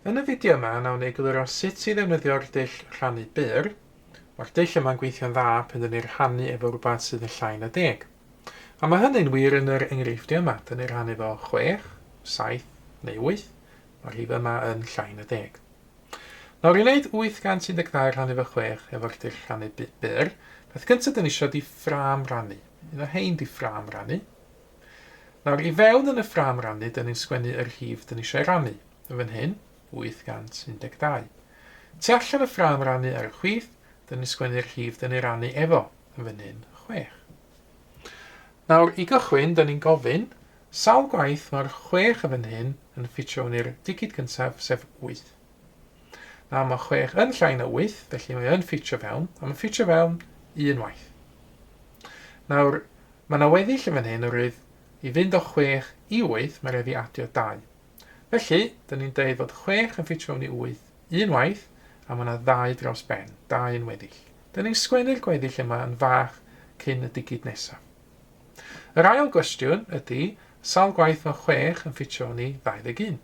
Yn y fideo yma, nawn ni egluro sut i ddefnyddio'r dull rhannu byr. Mae'r dull yma'n gweithio'n dda pan dyn ni'n rhannu efo rhywbeth sydd yn llai na deg. A mae hynny'n wir yn yr enghreifftiau yma. Dyn ni'n rhannu efo 6, 7 neu 8. Mae'r rhif yma yn llai na deg. Nawr i wneud 812 rhannu fo 6 efo'r dull rhannu byd byr, peth cyntaf dyn ni isio di ffrâm rannu. Un o hein di ffrâm rannu. Nawr i fewn yn y ffrâm rannu dyn ni'n sgwennu y rhif dyn ni eisiau rannu. Yn fan hyn, 812. Tu allan y ffrâm rannu ar y chwith, dyn ni'n sgwennu'r rhif dyn ni rannu efo. Yn fan hyn, 6. Nawr, i gychwyn, 'da ni'n gofyn, sawl gwaith mae'r chwech yn fan hyn yn ffitio yn i'r digid gyntaf, sef wyth? Nawr, mae chwech yn llai na wyth, felly mae yn ffitio fewn, a mae'n ffitio fewn un waith. Nawr, mae yna weddill yn fan hyn, oherwydd i fynd o chwech i wyth, mae rhaid fi adio dau. Felly, dyn ni'n deud fod chwech yn ffitio fewn i wyth, un waith, a mae yna ddau dros ben, dau yn weddill. Dyn ni'n sgwennu'r gweddill yma yn fach cyn y digid nesaf. Yr ail gwestiwn ydy, sawl gwaith mae chwech yn ffitio fewn i 21?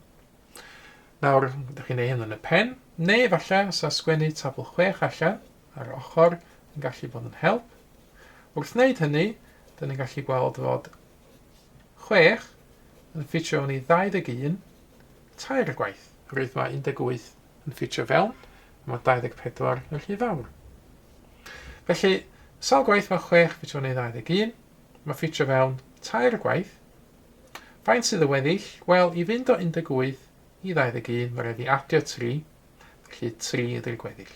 Nawr, ydych chi'n ei hyn yn y pen, neu efallai os a sgwennu tabl chwech allan ar yr ochr yn gallu bod yn help. Wrth wneud hynny, dyn ni'n gallu gweld fod chwech, yn ffitio yn ei ddauddeg un, tair gwaith. Rwyf mae 18 yn ffitio fewn, a mae 24 yn rhy fawr. Felly, sawl gwaith mae chwech ffitio yn ei ddauddeg un? Mae ffitio fewn tair gwaith. Faint sydd y weddill? Wel, i fynd o 18 i ddauddeg un, mae rhaid i adio tri, felly tri ydy'r gweddill.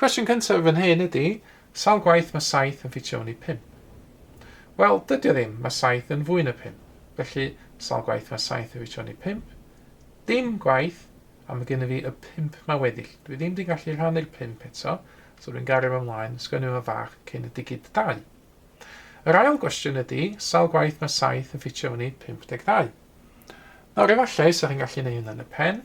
Cwestiwn cyntaf fan hyn ydy, sawl gwaith mae 7 yn ffitio mewn i 5? Wel, dydy o ddim, mae 7 yn fwy na 5. Felly, sawl gwaith mae 7 yn ffitio mewn i 5? Dim gwaith, a mae gennym fi y 5 mae weddill. Dwi ddim wedi gallu rhannu'r 5 eto, so dwi'n gario fo ymlaen, sgwennu fo fach cyn y digid 2. Yr ail gwestiwn ydy, sawl gwaith mae 7 yn ffitio mewn i 52? Nawr efallai, sa'ch chi'n gallu neud hynna yn y pen,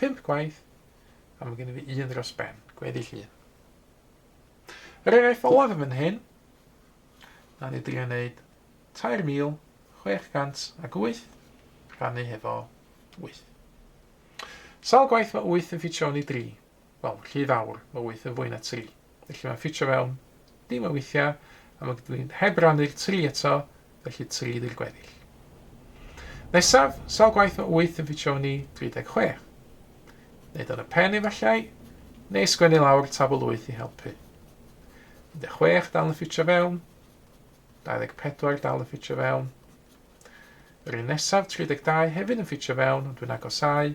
Pump gwaith, a mae gen i fi un dros ben, gweddill un. Yr eraill olaf yn fan hyn, na ni drio wneud 3,608 rhannu hefo 8. Sawl gwaith mae 8 yn ffitio ni 3? wel, rhy fawr, mae wyth yn fwy na tri. Felly mae'n ffitio fewn, dim yn weithiau, a mae dwi heb rannu'r tri eto, felly tri ydy'r gweddill. Nesaf, sawl gwaith mae wyth yn ffitio yn ni 36? Neu dan y pen efallai, neu sgwennu lawr tabl wyth i helpu. 16 dal yn ffitio fewn, 24 dal yn ffitio fewn, Yr un nesaf, 32, hefyd yn ffitio fewn, ond dwi'n agosau,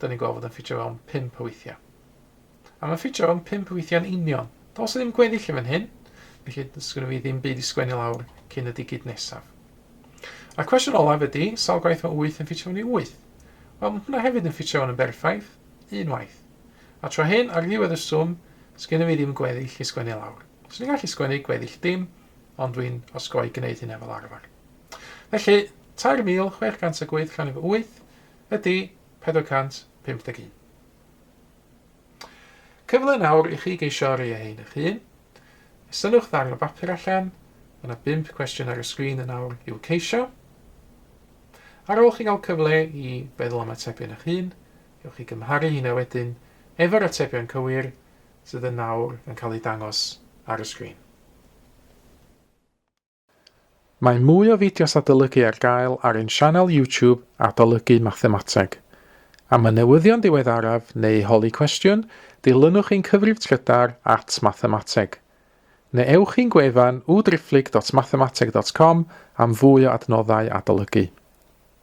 da ni'n gweld fod yn ffitio fewn 5 o weithiau. A mae'n ffitio fewn 5 o weithiau'n union. Dos ddim gweddill yn fan hyn, felly sgwni fi ddim byd i sgwennu lawr cyn y digid nesaf. A cwestiwn olaf ydy, sawl gwaith mae 8 yn ffitio fewn i 8? Wel, mae hwnna hefyd yn ffitio fewn yn berffaith, unwaith. A tro hyn, ar ddiwedd y swm, sgwni fi ddim gweddill i sgwennu lawr. Swn i'n gallu sgwennu gweddill dim, ond dwi'n osgoi gwneud hynna fel arfer. Felly, 3,608 rhan efo 8, ydy 451. Cyfle nawr i chi geisio rei ein eich hun. Sylwch dda ar y bapur allan, mae yna 5 cwestiwn ar y sgrin yn awr i'w ceisio. Ar ôl chi gael cyfle i feddwl am atebion eich hun, ewch i gymharu hynna wedyn efo'r atebion cywir sydd yn nawr yn cael eu dangos ar y sgrin. Mae mwy o fideos adolygu ar gael ar ein sianel YouTube Adolygu Mathemateg. Am y newyddion diweddaraf neu holi cwestiwn, dilynwch ein cyfrif trydar at Mathemateg. Neu ewch i'n gwefan www.driphlyg.mathemateg.com am fwy o adnoddau adolygu.